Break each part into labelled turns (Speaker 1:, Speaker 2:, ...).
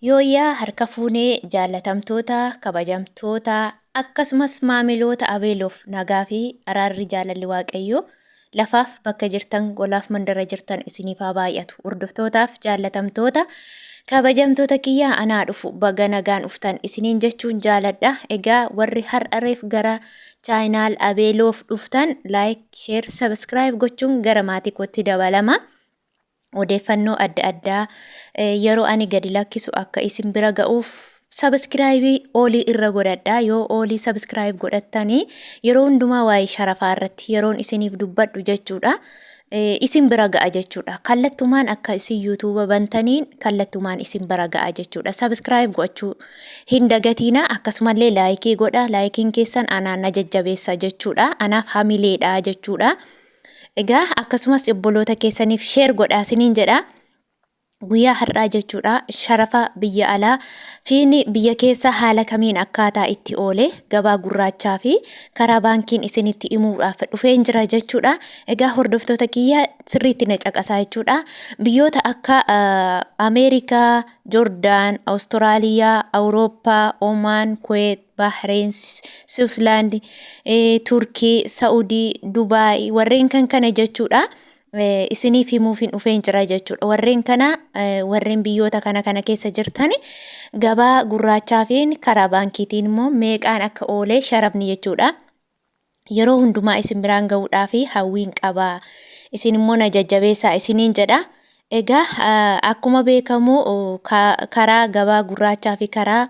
Speaker 1: Yooyyaa harka fuunee jaallatamtoota, kabajamtoota akkasumas maamiloota Abeeloof nagaa fi araarri jaalalli Waaqayyoo lafaaf bakka jirtan golaaf mandara jirtan isiniif haa baay'atu. Hordoftootaaf jaallatamtoota kabajamtoota kiyyaa anaa dhufu baga nagaan dhuftan isiniin jechuun jaaladha. Egaa warri har'a reef gara chaayinaal Abeeloof dhuftan like, share, subscribe gochuun gara maatii kootti dabalama. odeeffannoo adda addaa yeroo ani gadi lakkisu akka isin bira ga'uuf sabiskiraayibii oolii irra godhadha yoo oolii sabiskiraayib godhattanii yeroo hundumaa waa'ee sharafaa irratti yeroon isiniif dubbadhu jechuudha isin bira ga'a jechuudha kallattumaan akka isin yuutuuba bantaniin kallattumaan isin bira ga'a jechuudha sabiskiraayib gochuu hin dagatiina akkasumallee laayikii godha laayikiin keessan anaan na jajjabeessa jechuudha anaaf hamileedha jechuudha Egaa akkasumas obboloota keessaniif sheer godhaa siniin jedha. Guyyaa har'aa jechuudha sharafa biyya alaa fi biyya keessa haala kamiin akkaataa itti oole gabaa gurraachaa fi karaa baankiin isinitti himuudhaaf dhufeen jira jechuudha. Egaa hordoftoota kiyya sirriitti na caqasaa jechuudha. Biyyoota akka Ameerikaa, Joordaan, Awustiraaliyaa, Awurooppaa, Omaan, Kuweet, Bahreen, Siwuslaand, Turkii, Sa'udii, Dubaay warreen kan kana jechuudha. Isiniif himuuf hin dhufeen jira jechuudha. Warreen kana warreen biyyoota kana kana keessa jirtan gabaa gurraachaa fi karaa baankiitiin immoo meeqaan akka oolee sharafni jechuudha. yeroo hundumaa isin biraan ga'uudhaaf hawwiin qaba. Isin immoo na jajjabeessaa isiniin jedha. Egaa akkuma beekamu karaa gabaa gurraachaa fi karaa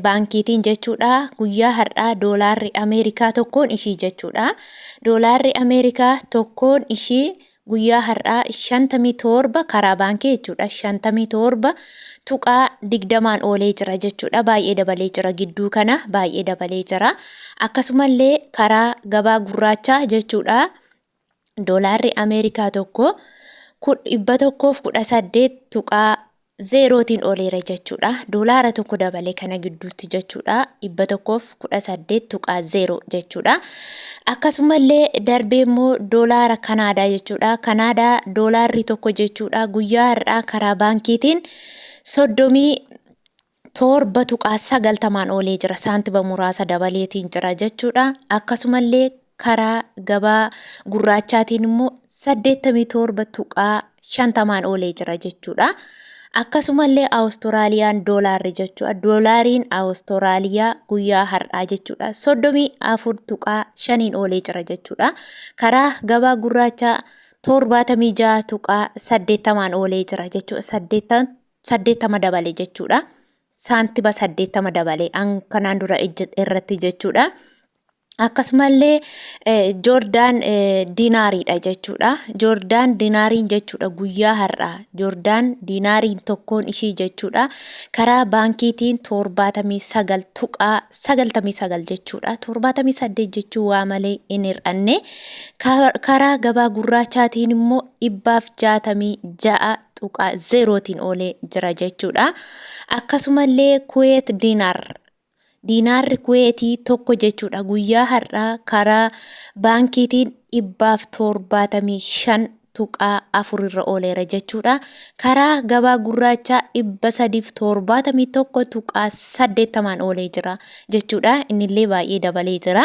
Speaker 1: baankiitiin jechuudha guyyaa har'aa doolaarri Ameerikaa tokkoon ishii jechuudha. Doolaarri Ameerikaa tokkoon ishii guyyaa har'aa 57 karaa baankii jechuudha 57.20n oolee jira jechuudha baay'ee dabalee jira gidduu kana baay'ee dabalee jira akkasumallee karaa gabaa gurraachaa jechuudha doolaarri ameerikaa tokko 118 0 tiin oleera jechuu dha. Doolaara tokko dabale kana gidduutti jechuu dha. 118.0 jechuu dha. Akkasumallee darbee immoo doolaara Kanaadaa jechuu dha. Kanaadaa doolaarri tokko jechuu dha. Guyyaa har'aa karaa baankiitiin soddomii torba tuqaa sagaltamaan oolee jira. Saantiba muraasa dabaleetiin jira jechuu dha. Akkasumallee karaa gabaa gurraachaatiin immoo 87.50n oolee jira jechuudha. Akkasumallee Awustiraaliyaan doolaarri jechuudha. Doolaariin Awustiraaliyaa guyyaa har'aa jechuudha. 34.5n oolee jira jechuudha. Karaa gabaa gurraachaa 76.80n oolee jira jechuudha. 80 80 dabale jechuudha. Saantiba 80 dabale an kanaan dura ejje- irratti jechuudha. Akkasumallee Joordaan dinaariidha jechuudha. Joordaan dinaariin jechuudha guyyaa har'aa. Joordaan dinaariin tokkoon ishii jechuudha. Karaa baankiitiin torbaatamii sagal tuqaa sagaltamii sagal jechuudha. Torbaatamii saddeet jechuu waa malee hin hir'anne. Karaa gabaa gurraachaatiin immoo dhibbaaf jaatamii ja'a tuqaa zeerootiin oolee jira jechuudha. Akkasumallee Kuweet dinaar Diinaarri Kuweetii tokko jechuudha guyyaa har'aa karaa baankiitiin 175.4 irra ooleera jechuudha. Karaa gabaa gurraachaa 371.80 oolee jira jechuudha. Innillee baay'ee dabalee jira.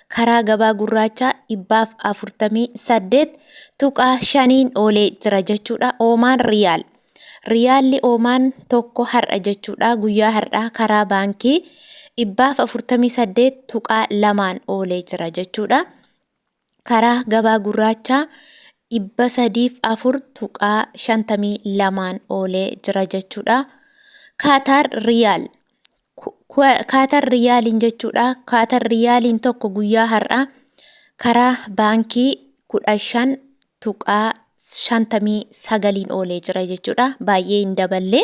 Speaker 1: karaa gabaa gurraachaa 148.5n oolee jira jechuudha. Oomaan Riyaal. Riyaalli Oomaan tokko har'a jechuudha. Guyyaa har'aa karaa baankii 148.2n oolee jira jechuudha. Karaa gabaa gurraachaa 304.52n oolee jira jechuudha. Kaataar Riyaal. Kaatar Riyaaliin jechuudha. Kaatar Riyaaliin tokko guyyaa har'aa karaa baankii kudha shan tuqaa shantamii sagaliin oolee jira jechuudha. Baay'ee hin daballee.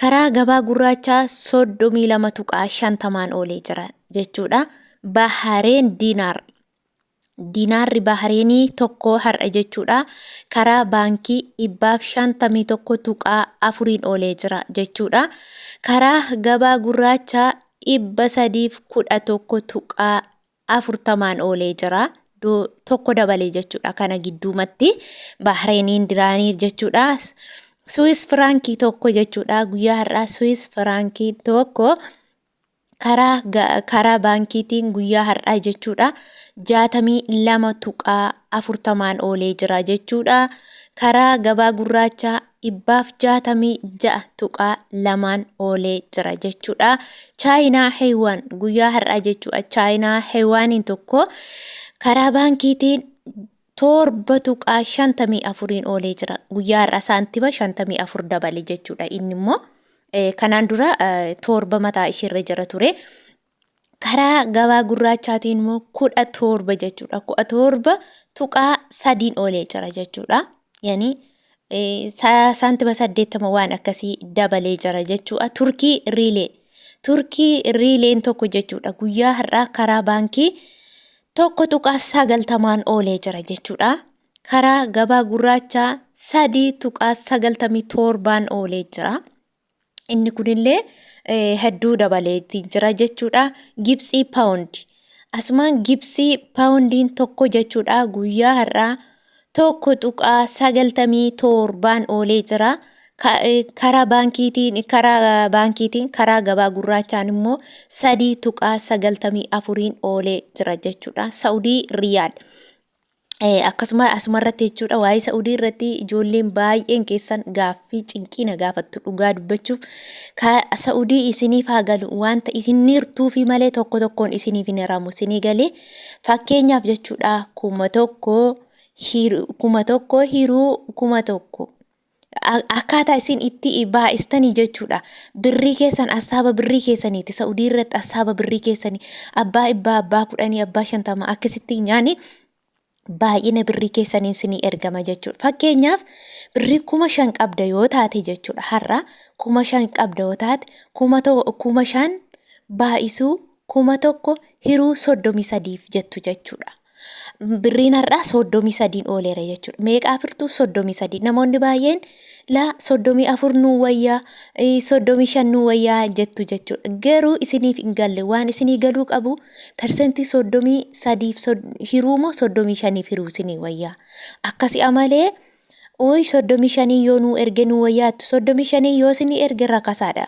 Speaker 1: Karaa gabaa gurraachaa soddomii lama tuqaa shantamaan oolee jira jechuudha. Bahareen diinaar Diinaarri Bahreenii tokko har'a jechuudha karaa baankii 151.4n oolee jira jechuudha. Karaa gabaa gurraachaa 311.40n oolee jira. Tokko dabalee jechuudha kana gidduumatti Bahreeniin diraanii jechuudha. Suwis firaankii tokko jechuudha guyyaa har'aa Suwis firaankii tokko karaa karaa baankiitiin guyyaa har'aa jechuudha 62.40n oolee jira jechuudha. Karaa gabaa gurraachaa dhibbaaf 66.2n oolee jira jechuudha. Chaayinaa Heewaan guyyaa har'aa jechuudha. Chaayinaa Heewaaniin tokko karaa baankiitiin 7.54n oolee jira. Guyyaa har'aa saantima 54 dabale jechuudha. Inni immoo kanaan dura 7 mataa isheerra jira ture. Karaa gabaa gurraachaatiin immoo 17 jechuudha. 17 tuqaa sadiin oolee jira jechuudha. Yani saantima 80 waan akkasii dabalee jira jechuudha. Turkii riilee. Turkii riileen tokko jechuudha. Guyyaa har'aa karaa baankii 1.9 tamaan oolee jira jechuu dha. Karaa gabaa gurraachaa 3.97n oolee jira. Inni kunillee eh, hedduu dabaleeti jira jechuu dha. Gibsii paawundi. Asumaan gibsii paawundiin tokko jechuu dha guyyaa har'aa 1.97n oolee jira. Karaa baankiitiin karaa baankiitiin karaa gabaa gurraachaan immoo 3.94n oolee jira jechuudha. Saudii Riyaal. Akkasuma asuma irratti jechuudha waa'ee Saudii irratti ijoolleen baay'een keessan gaaffii cinqii na gaafattu dhugaa dubbachuuf ka Saudii isiniif haa galu wanta isin hirtuufi malee tokko tokkoon isiniif hin hiramu isinii galee Fakkeenyaaf jechuudha kuma tokko kuma tokko hiruu kuma tokko. Akkaataa isin itti baay'istanii jechuudha. Birrii keessan assaaba birrii keessaniiti. Sa'udii irratti assaaba birrii keessanii abbaa ibbaa abbaa kudhanii abbaa shantama akkasitti nyaani baay'ina birrii keessaniin sinii ergama jechuudha. Fakkeenyaaf birrii kuma shan qabda yoo taate jechuudha har'a kuma shan qabda yoo taate kuma to- kuma shan baay'isuu kuma tokko hiruu soddomii sadiif jettu jechuudha. Birriin har'aa soddomii sadiin ooleera jechuudha. Meeqaa firtuu soddomii sadii namoonni baay'een laa soddomii afur nuu wayyaa eh, soddomii shan nuu wayyaa jettu jechuudha. Garuu isiniif hin galle waan isinii galuu qabu persentii soddomii sadiif sod- hiruu moo soddomii shaniif hiruu isinii wayyaa. Akkasi amalee ooyi soddomii shanii yoo nuu erge nuu wayyaa jettu soddomii shanii yoo isinii erge rakasaadha.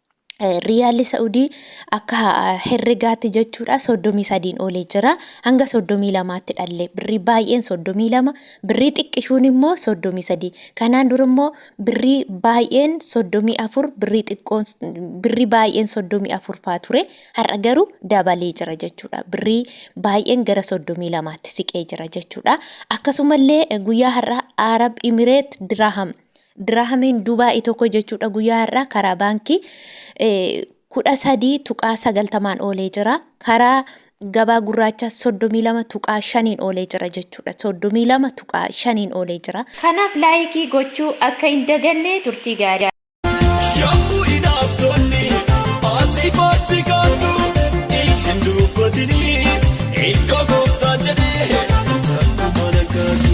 Speaker 1: Riyaalli Sa'udii akka herregaatti jechuudha 33 olee jira hanga 32tti dhalle birrii baay'een 32 birrii xiqqishuun immoo 33 kanaan dura immoo birrii baay'een 34 birrii xiqqoon birrii baay'een 34 faa ture har'a garuu dabalee jira jechuudha birrii baay'een gara 32tti siqee jira jechuudha akkasumallee guyyaa har'a Arab Imireet Diraaham Diraahameen Dubaa'ii tokko jechuudha guyyaa har'aa karaa baankii 13.90n oolee jira. Karaa gabaa gurraachaa 32.5n oolee jira jechuudha. 32.5n oolee jira. Kanaaf laayikii gochuu akka hin daganne turtii gaarii. Yommuu inaaftonni asii faachi kaattu isin dubbatini iddoo gooftaan jedhee takkumaan akkaatu.